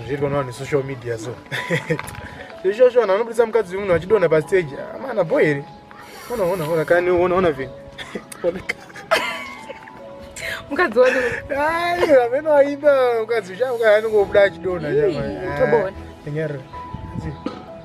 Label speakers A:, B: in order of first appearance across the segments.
A: zviriko nawo nesocial media so izvozvo vanhu vanobudisa mukadzi wemunhu vachidonha pastage amana ah, bo here ona ona ona kani ona ona vini mukadzi wani ayi amene waimba mukadzi uchauka anongobuda achidonha nyama nyarira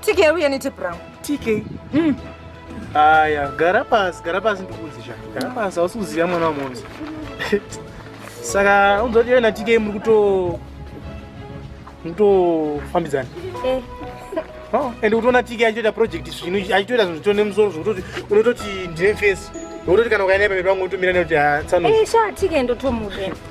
A: TK uye ne tape rangu. TK. Mm. Aya, gara pasi, gara pasi ndikuudze cha. Gara pasi hausi kuziva mwana wamonzi. Saka unzwa kuti na TK muri kuto mutofambidzana. Eh. Oh, and utoona TK achitoita project zvino achitoita zvinhu zvitone musoro zvokutoti unototi ndine face. Unototi kana ukaenda pamberi pangu utomira nekuti ah, tsano. Eh, sha TK ndotomuke.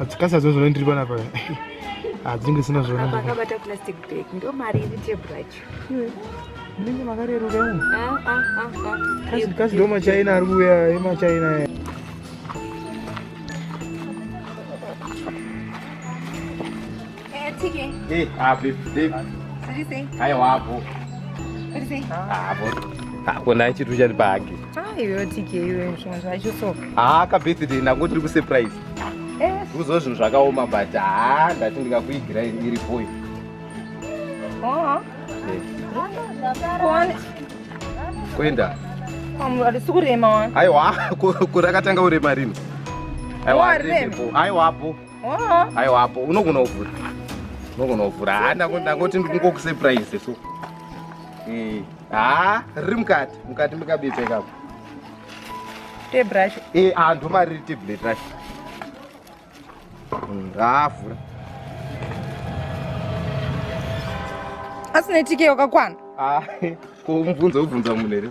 A: Atsikasa zvo zvona ndiri pana paya. Adzinge sina zvona. Apa akabata plastic bag ndo mari iri table racho. Ndinge makarerura umu. Ah ah ah ah. Kasi kasi ndo machaina ari kuuya emachaina aya. hakuna chitu chati pahagi haka birthday nangu tiri kusurprise kuzo zvinhu zvakaoma but haa ndati ndikakuigira iri boy kuenda arisi kurema aiwa kurakatanga kurema rino aiwa aiwapo Aiwa apo unogona kuvhura. Unogona kuvhura. Ha ndangoti ndingo surprise so. Eh, ha riri mukati, mukati mukabitsa ikapo. Te brush. Eh, ah ndo mari te blade brush. Hmm, ha vhura. Asina tike wakakwana. Ah, ko mvunzo ubvunza munhu here?